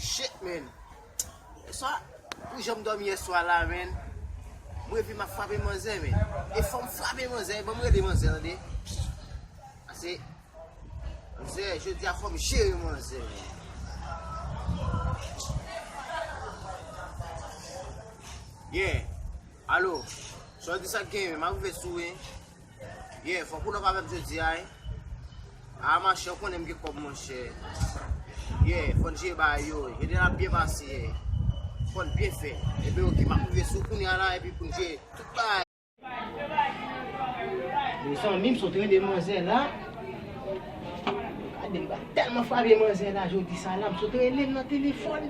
Shit men, eswa pou jan m dòmi eswa la men, m reve m ap frape manzè men, e fò m frape manzè, ban m rele manzè tande, ase, manzè, jodi a fò m jere manzè men. Yeah. Allo Soeur ki sak genyen map rive sou ou wi Yeah fok ou love avèm jodi a wi Aa ma chère ou konnenm gen kob monchè Yeah fòn jere bagay yo wi Eden ap byen pase yeah Fòn byen fè Ebyen ok map rive sou ou kounya la epi poun jere tout bagay Bon zanmim sot rele manzè la Gade m ba telman frape manzè la jodi sa la m sot relel nan telefòn.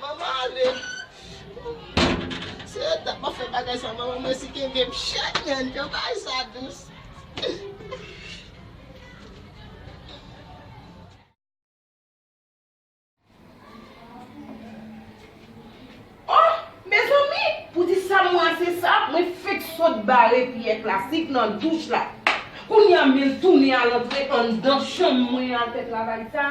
Manman ale Se yo tap ap fè bagay sa manman m resi kenbe m chèn menn yo bay sa dous. Oh mezanmi pou di sa m rase sa mwen fek sot bare pyè plastik nan douch la kounya m vin tounen al antre anndan chanm mwen al fè travay sa.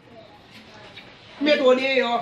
Met ou deyò.